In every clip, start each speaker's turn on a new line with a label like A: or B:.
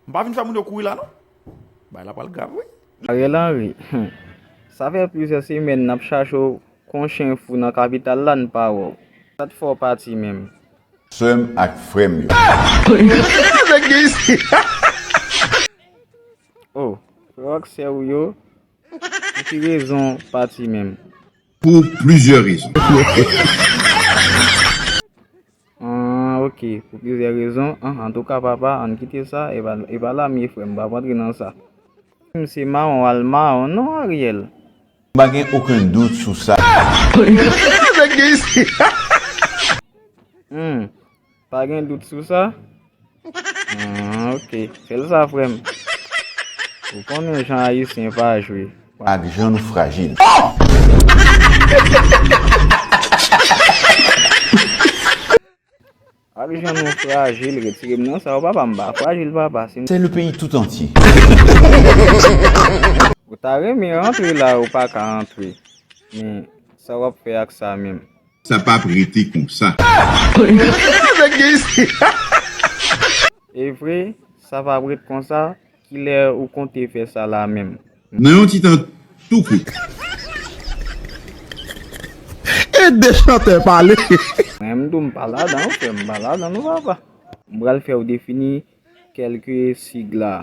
A: M pa vin fè moun yo kouri la non. Bagay la pral grav wi. Ariel Henry,
B: Humm! Sa fè plizyè semèn nap chache w kon chen fou nan kapital la n pa wè w. Sa t fè w pati menm? Sè m ak
C: frè m yo.
B: Oh! Frè w ak sè w yo, pou ki rezon w pati menm?
D: Pou plizyè
B: rezon. Ahh ok pou plizyè rezon ahh antouka papa ann kite sa epa lamye frè m pap antre nan sa. Humm se mawon wal mawon non Ariel. M pa gen
C: oken dout sou sa.
B: Humm Pa gen dout sou sa? Aah ok. Fel sa frem. Ou konnen jan ayisyen pa jwe. Ak jan nou
C: frajil.
B: Ak jan nou frajil retirem nan sa ou papa m pa frajil papa si m. Se le peyi tout
C: antye.
B: Ou ta renmen rantre la ou paka rantre men sa wap fè ak sa menm. Sa pap rete
D: konsa.
B: Evre sa pap ret konsa kilè ou konte fè sa la menm. Nan yon ti tan
D: tou kout.
A: Ede chantè pale. Mwen m tou m
B: pa ladan ok m pa ladan non papa. M pral fèw defini kelke sig la.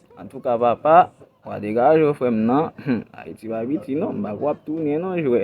B: Antouka papa wa degaje w frem nan Haiti pa
A: piti
B: non m pa kwe wap tounen non jwè.